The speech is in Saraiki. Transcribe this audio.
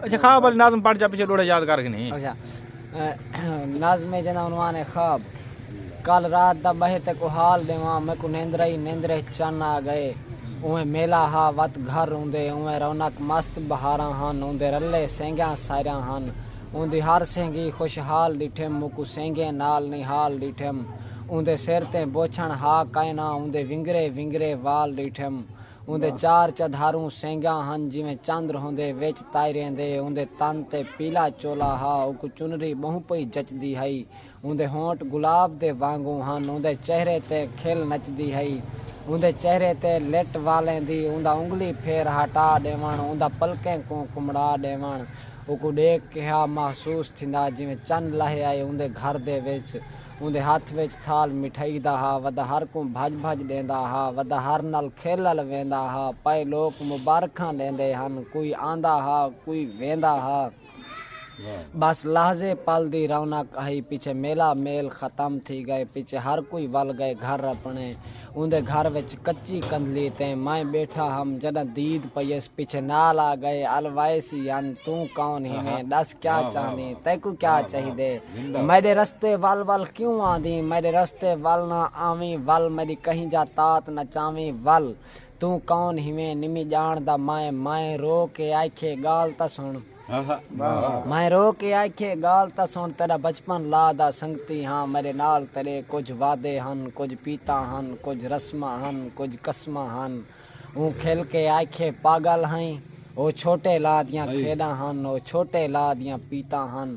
اچھا خواب علی نازم پڑھ جا پیچھے لوڑا یاد کر کے نہیں اچھا نازم جنا عنوان ہے خواب کل رات دا بہے تے کو حال دیواں میں کو نیندرہ ہی نیندرہ چن آ گئے اویں میلا ہا وت گھر اوندے اویں رونق مست بہاراں ہن اوندے رلے سینگیاں سائراں ہن اوندی ہر سینگی خوش حال ڈٹھم موکو سینگیں نال نی حال ڈٹھم اوندے سر تے بوچھن ہا کائنا اوندے ونگرے ونگرے وال ڈٹھم اوندے چار چدھاروں سینگاں ہن جیویں چندر ہوندے وچ تائریں دے اوندے تن تے پیلا چولا ہا اوکوں چنری بہوں پئی جچدی ہئی اوندے ہونٹ گلاب دے وانگوں ہن اوندے چہرے تے کھل نچدی ہئی اوندے چہرے تے لٹ والیں دی اوندا انگلی پھیر ہاٹا ڈیوݨ اوندا پلکیں کوں کمڑا ڈیوݨ اوکوں ڈیکھ کیہا محسوس تھیندا جیویں چن لہے آئے اوندے گھر دے وچ اوندے ہتھ وچ تھال مٹھائی دا ہا، ودا ہر کوں بھج بھج ڈیندا ہا، ودا ہر نال کھیلل ویندا ہا، پئے لوک مبارکھاں ڈیندے ہن، کوئی آندا ہا، کوئی ویندا ہا۔ بس لحظے پل دی رونق ہئی، پچھے میلہ میل ختم تھی گئے، پچھے ہر کوئی ول گئے گھر اپنے، اوندے گھر وچ کچی کندھلی تے میں ٻیٹھا ہم جݙاں دید پئیس پچھے نال آ ڳئے ال وائس یان توں کون ہیویں ݙس کیا چاہندیں تیکوں کیا چاہیدے میݙے رستے ول ول کیوں آندیں میݙے رستے ول نہ آویں ول میݙی کہیں جا تات نہ چاویں ول توں کون ہیویں نمی ڄاݨدا میں میں رو کے آکھیے ڳال تاں سݨ میں رو کے آکھیے گال تاں سن تیڈا بچپن لا دا سنگتی ہاں میڈے نال تیڈے کجھ وعدے ہن کجھ پیتاں ہن کجھ رسماں ہن کجھ قسماں ہن اوں کھل کے آکھیے پاگل ہئیں او چھوٹے لا دیاں کھیڈاں ہن او چھوٹے لا دیاں پیتاں ہن